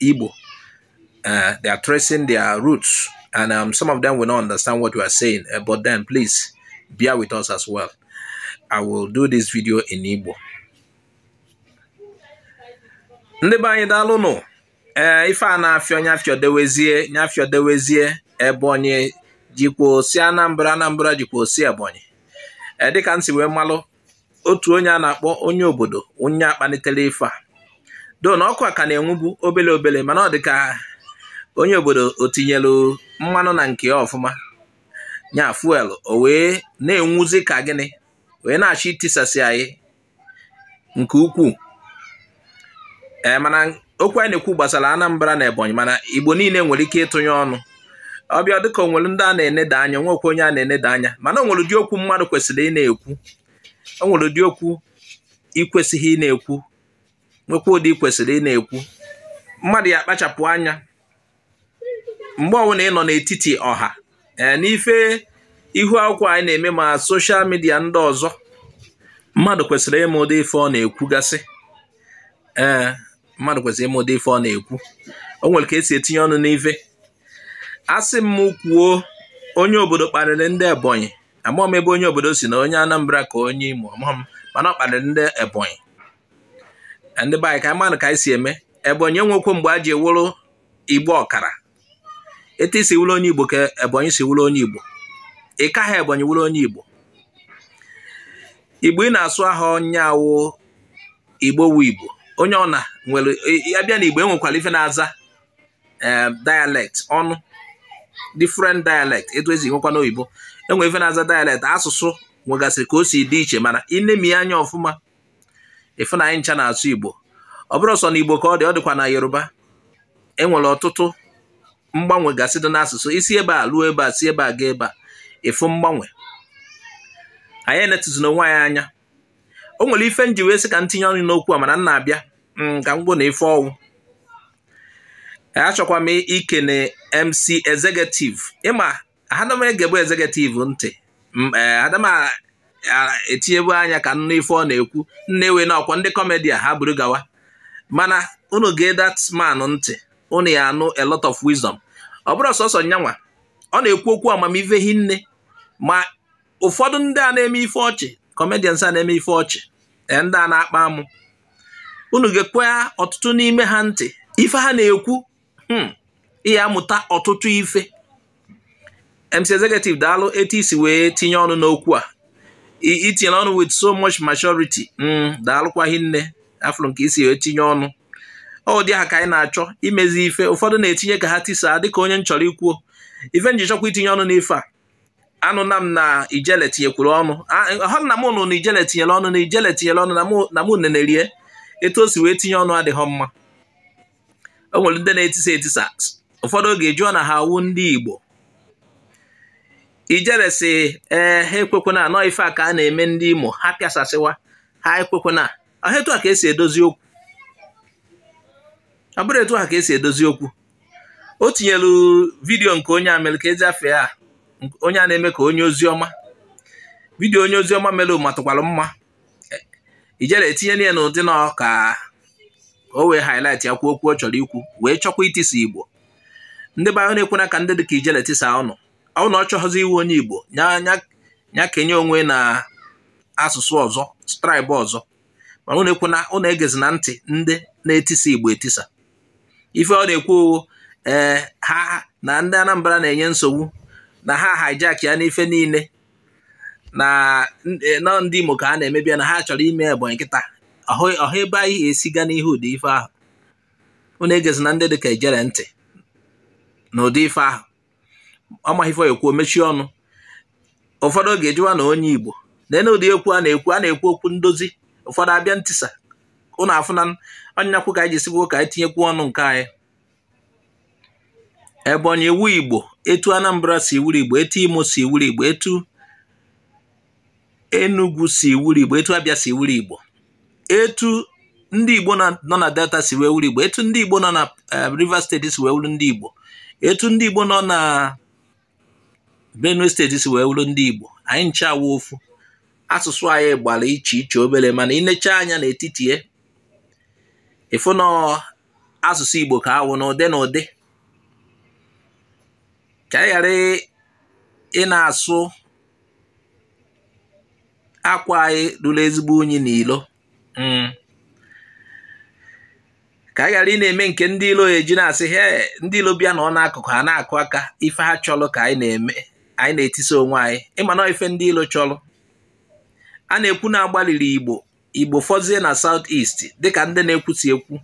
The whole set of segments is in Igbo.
Igbo. Uh, they are tracing their roots, and um, some of them will not understand what we are saying. Uh, but then, please bear with us as well. I will do this video in Igbo. ndị be anyị daalụnụ ee eh, ife a na-afịọ nya fịọdewezie nya fịọdewezie ebonyi jikwa osi anambra anambra jikwa osi ebonyi ee eh, dịka m si wee malụ otu onye a na-akpọ onye obodo ọ nya kpanitere ife a though na ọkụ a ka na-enwubu obele obele mana ọ dị ka onye obodo o tinyelu mmanụ na nke ya ọfụma nya fuel o wee na-enwuzi ka gịnị wee na-achọ itisasị anyị nke ukwuu ee mana okwu anyị na-ekwu gbasara Anambra na Ebonyi mana Igbo niile nwere ike ịtụnye ọnụ ọ bịa dịka o nwere ndị a na-eneda anya nwekwa onye a na-eneda anya mana o nwere ụdị okwu mmadụ kwesịrị ị na-ekwu o nwere ụdị okwu i kwesịghị ị na-ekwu nwekwa ụdị i kwesịrị ị na-ekwu mmadụ ya akpachapụ anya mgbe ọbụla ị nọ n'etiti ọha ee n'ife ihu akwụkwọ anyị na-eme ma social media ndị ọzọ mmadụ kwesịrị ịma ụdị ife ọ na-ekwugasị ee mmadụ kwesịrị ịma ụdị ife ọ na-ekwu o nwere ka e si etinye ọnụ n'ife a sị m kwuo onye obodo kparịrị ndị ebonyi amaghị m ebe onye obodo si na onye anambra ka onye imo amaghị m mana ọ kparịrị ndị ebonyi ndị be anyị ka anyị manụ ka anyị si eme ebonyi enwekwọ mgbe e ji awụrụ igbo ọkara etu i si wụrụ onye igbo ka ebonyi si wụrụ onye igbo ị kaghị ebonyi wụrụ onye igbo igbo ị na-asụ aha onye awụ igbo wụ igbo onye ọna nwere a bịa na igbo enwekwara ife na-aza eh, dialect onu different dialect etu e si nwekwa n'oyibo enwere ife na-aza dialect asụsụ nwegasịrị ka o si dị iche mana i nemie anya ọfụma ị fụ na anyị ncha na-asụ Igbo ọ bụrọ sọ na Igbo ka ọ dị ọ dịkwa na Yoruba enwere ọtụtụ mgbanwe gasị dị n'asụsụ i si ebe a ruo ebe a si ebe a gaa ebe a ị fụ mgbanwe anyị enetuzina onwe anyị anya o nwere ife m ji wee sị ka m tinye ọnụ n'okwu a mana m na-abịa mm, ka m gwa unu ife ọ wụ achọkwa m ikene MC Executive ịma ada m egebu Executive ntị eh, ada m etinyebu anya ka m nụ ife ọ na-ekwu m newe na ọkwa ndị comedian ha buru gawa mana unu gee that man ntị unu ya anụ a lot of wisdom ọ bụrọ sọsọ nyanwa ọ na-ekwu okwu amamife hinne ma ụfọdụ ndị a na-eme ife ọchị comedians a na-eme ife ọchị eh, ndị a na-akpa amụ unu gekwaa ọtụtụ n'ime ha ntị ife ha na-ekwu hmm. ihe amụta ọtụtụ ife MC Executive daalụ etu i si wee tinye ọnụ n'okwu a i tinye ọnụ with so much maturity hmm, daalụkwa hinne afụrụ m ka i si wee tinye ọnụ ọ dị ha ka anyị na-achọ imezi ife ụfọdụ na-etinye ka ha tisaa dịka onye m chọrọ ikwuo ife m ji chọkwa itinye ọnụ n'ife a anụna m na Ijele tinyekwuru ọnụ ọ na m nụ na Ijele tinyere ọnụ na Ijele tinyere ọnụ na mụ nenerie etu o si wee tinye ọnụ adịghị mma o nwere ndị na-etisa etisa ụfọdụ oge jụọ na ha awụ ndị Igbo Ijele sị ee ha ekwekwana na ọ ife a ka a na-eme ndị Imo ha pịasasịwa ha ekwekwana ọ ha etu a ka e si edozi okwu ọ bụrụ etu a ka e si edozi okwu o tinyelu vidiyo nke onye a mere keezi afa ya onye a na-eme ka onye ozi ọma vidiyo onye ozi ọma mere matụkwara mma Ijele etinyena ya n'ụdị na ọ ka o wee highlight ya kwuo okwu ọ chọrọ ikwu wee chọkwa itisa Igbo ndị be anyị unu ekwena ka ndị dị ka Ijele tisaa unu ọ na ọ chọghịzi ịwụ onye Igbo nya kenye onwe na asụsụ ọzọ tribe ọzọ ma unu ekwena unu egezina ntị ndị na-etisa Igbo etisa ife ọ na-ekwu ee eh, ha na ndị Anambra na-enye nsogbu na ha hijack ya n'ife niile na eh, na ọ ndị Imo ka a na-emebi na ha chọrọ ime Ebonyi kịta ọ ha ebe anyị esi ga n'ihu ụdị ife ahụ unu egezina ndị dị ka Ijele ntị na ụdị ife ahụ ọ maghị ife ekwu mechie ọnụ ụfọdụ oge a jụwa na onye Igbo lee na ụdị okwu a na-ekwu a na-ekwu okwu ndozi ụfọdụ abịa ntisa unu afụna ọ nyakwu ka anyị ji sịkwu ka anyị tinyekwu ọnụ nke anyị Ebonyi wụ Igbo etu Anambra si wụrụ Igbo etu Imo si wụrụ Igbo etu Enugu si wụrụ Igbo etu Abia si wụrụ Igbo etu ndị Igbo nọ na Delta si wee wụrụ Igbo etu ndị Igbo nọ na eh, Rivers State si wee wụrụ ndị Igbo etu ndị Igbo nọ na Benue State si wee wụrụ ndị Igbo anyị ncha awụ ofu asụsụ anyị gbara iche iche obere mana i necha anya n'etiti ya ị fụ na asụsụ Igbo ka ha wụ n'ụdị n'ụdị ka anyị ghara ịna-asụ akwa anyị luru ezigbo unyi n'ilo hmm. ka anyị ghara ịna-eme nke ndị ilo eji na-asị he ndị ilo bịa nọ n'akụkụ ha na-akụ aka ife ha chọrọ ka anyị na-eme anyị na-etisa onwe anyị ị ma na ife ndị ilo chọrọ a na-ekwu na agbalịrị Igbo igbo fọzie na south east dịka ndị na-ekwusi ekwu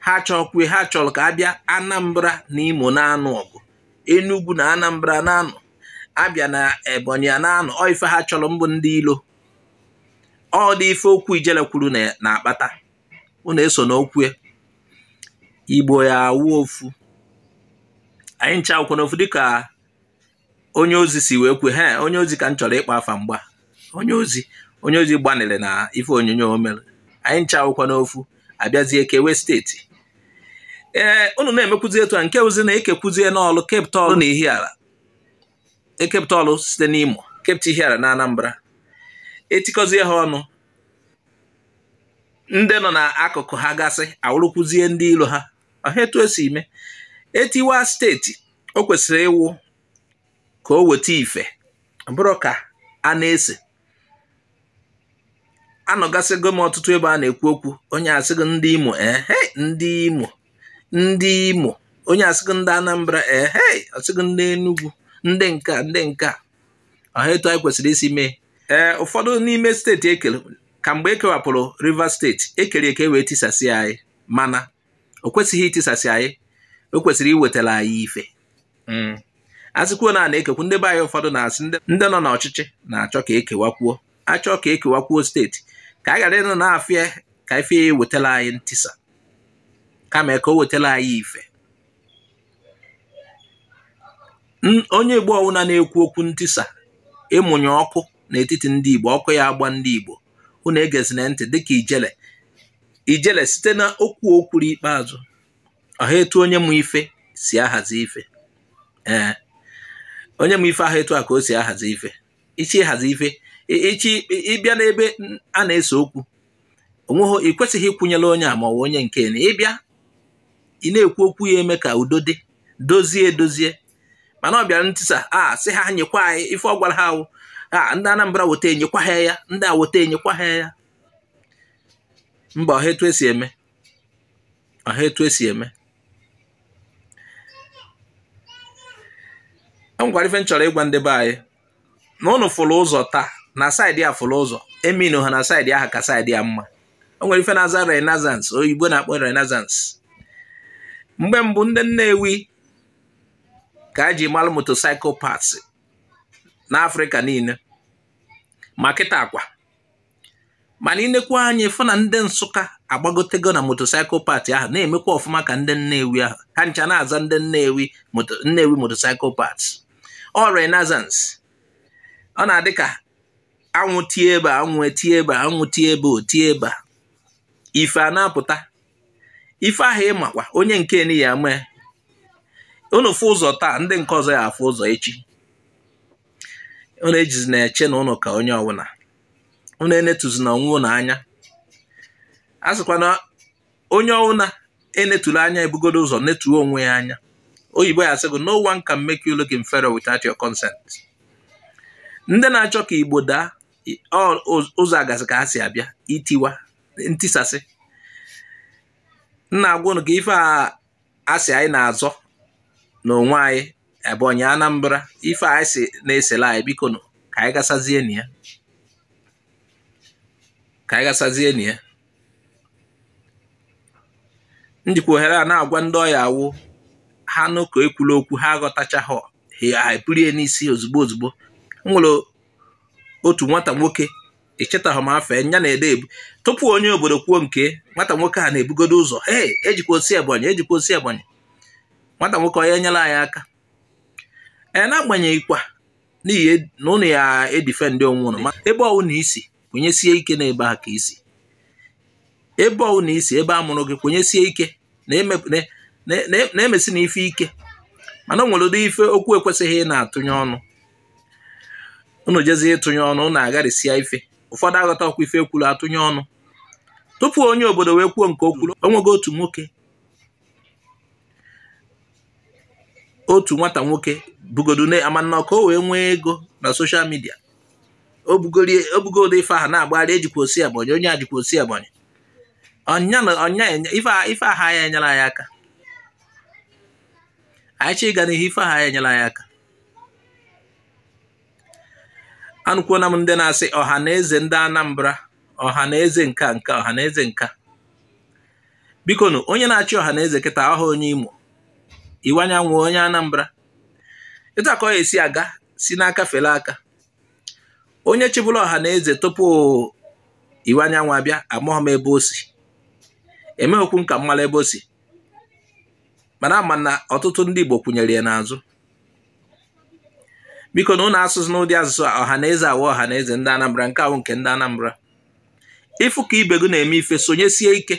ha chọkwue ha chọrọ ka abịa anambra na imo na-anụ ọgụ enugwu na anambra na-anụ abịa na ebonyi a na-anụ ọ ife ha chọrọ mbụ ndị ilo ọ ụdị ife okwu ijele kwuru na-akpata unu esona okwu e igbo ya awụ ofu anyị ncha awụkwa n'ofu dịka onye ozi si wee kwue ha onye ozi ka m chọrọ ịkpọ afa mgba onye ozi onye ozi gbanịrị na ife onyonyo o mere anyị ncha awụkwa n'ofu abịazie kewe steeti ee unu na-emekwuzi etu a nke ozi na ekekwuzie n'ọlụ kepụta ọlụ na ihiala ekepụta ọlụ site n'imo kepụta ihiala na anambra etikọzie ha ọnụ ndị nọ n'akụkụ ha gasị awụrụkwuzie ndị ilo ha ọha etu esi ime etiwa steeti o kwesịrị ịwụ ka o weta ife ọ bụrọ ka a na-ese anọgasịgo m ọtụtụ ebe a na-ekwu okwu onye asịgo ndị imo ehe ndị imo ndị imo onye asịgo ndị anambra ehe asịgo ndị enugwu ndị nke a ndị nke a ọha etu anyị kwesịrị isi mee ee ụfọdụ n'ime steeti ekere ka mgbe ekewapụrụ rivers steeti ekere eke wee tisasị anyị mana o kwesịghị itisasị anyị o kwesịrị iwetara anyị ife hmm. asịkwuo na a na-ekekwu ndị be anyị ụfọdụ na-asị ndị nọ n'ọchịchị na-achọ ka ekewakwuo achọ ka ekewakwuo steeti ka a ghara ịnọ na-afụ ya ka ife ya ewetara anyị ntisa kama ka o wetara anyị ife onye Igbo ọwụna na-ekwu okwu ntisa ịmụnye ọkụ n'etiti ndị Igbo ọkụ ya agba ndị Igbo unu egezina ntị dịka ijele ijele site na okwu o kwuru ikpeazụ ọha etu onye ma ife si ahazi ife ee onye ma ife ahụ etu a ka o si ahazi ife ị chọọ ịhazi ife ị bịa n'ebe a na-ese okwu onweghị ị kwesịghị ịkwụnyere onye a ma ọ bụ onye nke na ịbịa ị na-ekwu okwu ya eme ka udo dị dozie edozie mana ọ bịara ntisa a sị ha nyekwa anyị ife ọ gwara ha ahụ a ndị Anambra weta enyekwa ha ya ndị a weta enyekwa ha ya mba ọha etu esi eme ọha etu esi eme o nwekwara ife m chọrọ ịgwa ndị be anyị na ụnụ fụrụ ụzọ taa na saịdị a fụrụ ụzọ eminu ha na saịdị aha ka saịdị a mma o nwere ife na-aza renaissance oyibo na-akpọ renaissance mgbe mbụ ndị Nnewi ka a ji malụ motorcycle parts n'Afrịka niile ma kịta akwa mana i nekwa anya ị fụ na ndị nsụka agbagotego na motorcycle parts ahụ na-emekwa ọfụma ka ndị nnewi ahụ ha ncha na-aza ndị nnewi nnewi motorcycle parts ọ renaissance ọ na-adị ka anwụ tie ebe anwụ etie ebe anwụ tie ebe o tie ebe a ife a na-apụta ife ahụ ị makwa onye nke ni ya mee unu fụ ụzọ taa ndị nke ọzọ ya afụ ụzọ echi unu ejizi na-eche na ụnụ ka onye ọbụla unu enetuzina onwe ụnụ anya a sịkwa na onye ọbụla e netulu anya ebugodo ụzọ netuo onwe ya anya oyibo ya sịgo no one can make you look inferior without your consent ndị na-achọ ka igbo daa ụzọ agasị ka ha si abịa itiwa ntisasị m na-agwa ụnụ ka ife a a sị anyị na-azọ n'onwe anyị Ebonyi Anambra ife anyị si na-esele anyị biko nụ ka anyị gasazie na ya ka anyị gasazie na ya m jikwa ohere a na-agwa ndị ọ ya-awụ ha nụ ka e kwulu okwu ha aghọtachaghị ha ebulie n'isi ozugbo ozugbo o nwere otu nwata nwoke echetaghị m afa nya na-ede ebu tupu onye obodo kwuo nke nwata nwoke a na-ebugodo ụzọ ee ejikwa o si Ebonyi ejikwa o si Ebonyi nwata nwoke onye nyere anyị aka ee n'agbanyeghịkwa n'ihi e, na ụnụ ya edifendị onwe ụnụ ma ebe ọwụna i si kwenyesie ike na ebe a ka i si ebe ọwụna i si ebe a mụrụ gị kwenyesie ike na-emesi na ife ike mana o nwere ụdị ife okwu i kwesịghị ịna-atụnye ọnụ unu jezie ịtụnye ọnụ unu agharịsịa ife ụfọdụ aghọtakwa ife e kwuru atụnye ọnụ tupu onye obodo wee kwuo nke o kwuru o nwego otu nwoke otu nwata nwoke bugodo amanna ka o wee nwee ego na social media o bugodo ife ahụ na-agbagharị ejikwa o si Ebonyi onye ajikwa o si Ebonyi ọnya ife aha ya enyere anyị aka anyị chọ ịga n'ihu ife aha ya enyere anyị aka anụkwuola m ndị na-asị ọha na eze ndị Anambra ọha na eze nka nka ọha na eze nka biko nụ onye na-achị ọha na eze kịta ọha onye Imo Iwuanyanwụ onye Anambra etu a ka o si aga si n'aka fere aka onye chịbulu ọha na eze tupu Iwuanyanwụ abịa amaghị m ebe o si emeghịkwu m ka m mara ebe o si mana ama na ọtụtụ ndị Igbo kwụnyere ya n'azụ bikonụ ụnụ asụna ụdị asụsụ a ọha na eze a wụ ọha na eze ndị Anambra nke a wụ nke ndị Anambra ị fụ ka ibe gị na-eme ife sonyesie ike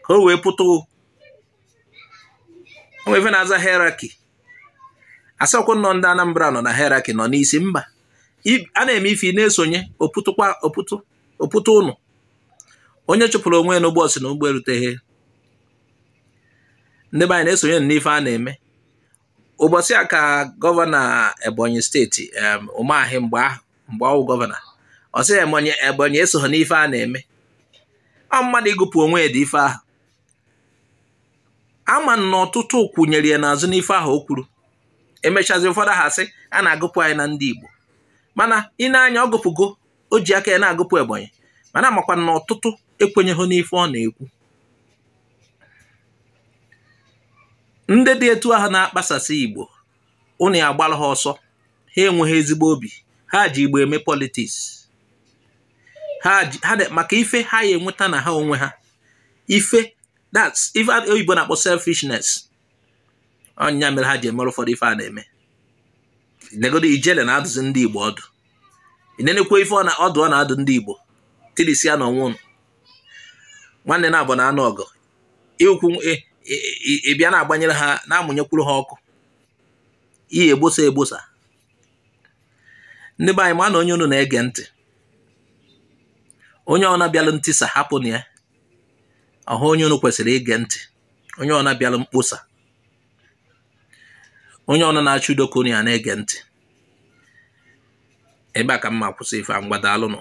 ka o wee pụta o nwe ife na-aza hierarchy a sịkwa na ndị Anambra nọ na hierarchy nọ n'isi mba a na-eme ife na-esonye opụtụ ụnụ onye chụpụrụ onwe ya n'ụgbọ sị na ụgbọ eruteghị ndị be anyị na-esonye n'ife a na-eme ụbọchị a ka gọvanọ ebonyi steeti Umahi mgbe ahụ mgbe ọ wụ gọvanọ ọ sị ebonyi esoghị n'ife a na-eme ọ mmadụ ịgụpụ onwe ya n'ụdị ife ahụ ama m na ọtụtụ kwụnyere ya n'azụ n'ife ahụ o kwuru e mechazie ụfọdụ ha sị a na-agụpụ anyị na ndị Igbo mana ị nee anya ọ gụpụgo o ji aka ya na-agụpụ ebonyi mana amakwa m na ọtụtụ ekwenyeghị n'ife ọ na-ekwu ndị dị etu ahụ na-akpasasị igbo ụnụ ya agbara ha ọsọ ha enweghị ezigbo obi ha ji igbo eme politiks ha maka ife ha ya enweta na ha onwe ha ife that's ife oyibo na-akpọ selfishness ọ nya mere ha ji emere ụfọdụ ife a na-eme negodu ijele na-adụzi ndị igbo ọdụ i nenekwa ife ọdụ ọ na-adụ ndị igbo tilisianụ onwe ụnụ nwanne naabọ na-anụ ọgụ ị kwụ ebe a na-agbanyere ha na-amụnyekwuru ha ọkụ i ya egbosa egbosa ndị be anyị manụ onye unu na-ege ntị onye ọna bịalụ ntisa hapụnụ ya ọhụ onye unu kwesịrị ige ntị onye ọna bịara mkposa onye ọna na-achọ udo ka unu ya na-ege ntị ebe a ka m ma-akwụsị ife a ngwa daalụnụ